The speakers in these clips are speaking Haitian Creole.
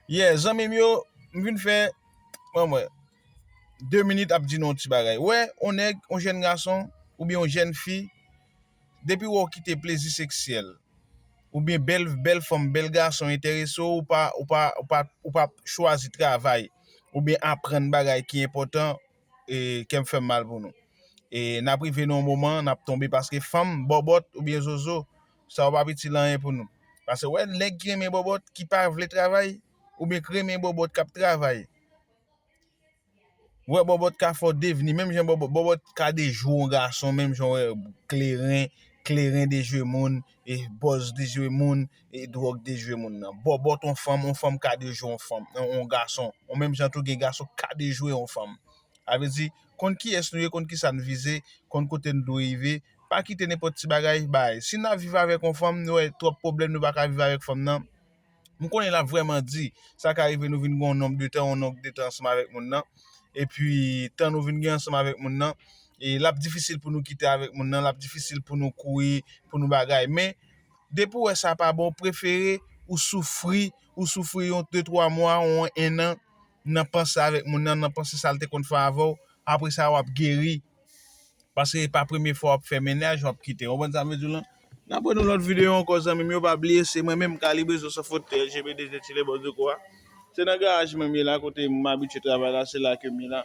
Yeah zanmim yo m vin fè ban mwen 2 minit ap di nou yon ti bagay wè yon nèg yon jèn gason oubyen yon jèn fi depi wè w kite plezi seksyèl oubyen bèl bèl fanm bèl gason enterese w ou pa ou pa ou pa ou pa chwazi travay oubyen aprann bagay ki enpòtan e kèm fèm mal pou nou e nap rive nan yon moman nap tonbe paske fanm bòbòt oubyen zozo sa yo pa p itil anyen pou nou. Pase wè nèg ki renmen bòbòt ki pa vle travay oubyen ki renmen bòbòt k ap travay. Wè bòbòt ka fè w devni menm jan bòbòt, bòbòt ka dejwe yon gason menm jan wè kleren, kleren dejwe moun, e bòz dejwe moun, e dwòg dejwe moun nan. Bòbòt yon fanm, yon fanm ka dejwe yon fanm, yon gason. Ou menm jan tou gen gason k ka dejwe yon fanm. Sa vle di konn kiyès nou ye, konn kisa n vize, konn kote n dwe rive. Pa kite nenpòt ti bagay bay. Si nap viv avèk yon fanm, nou wè twòp pwoblèm nou pa ka viv avèk fanm nan, m konnen lap vrèman di, sa ka rive nou vin gen yon nonb de tan, yon nonb de tan ansanm avèk moun nan, epi tan nou vin gen ansanm avèk moun nan, e lap difisil pou nou kite avèk moun nan, lap difisil pou nou kouri, pou nou bagay. Men, depi ou wè sa pa bon, prefere ou soufri, ou soufri yon de twa mwa, yon ennan, nan panse avèk moun nan, nan panse sa l te konn fè avè w, apre sa wap geri, Paske e pa premye fwa wap fè mennaj wap kite ou konprann sa mwen vle diw lan Nap wè nou lòt videyo ankò zanmim yo pa bliye se mwen menm Kalibezo Sans Fot GBD Zen Chile Boss de Kò a se nan garaj mwen m ye la kote m abitye travay la se la kem ye la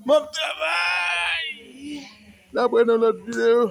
Bon travay Nap wè nou lòt videyo.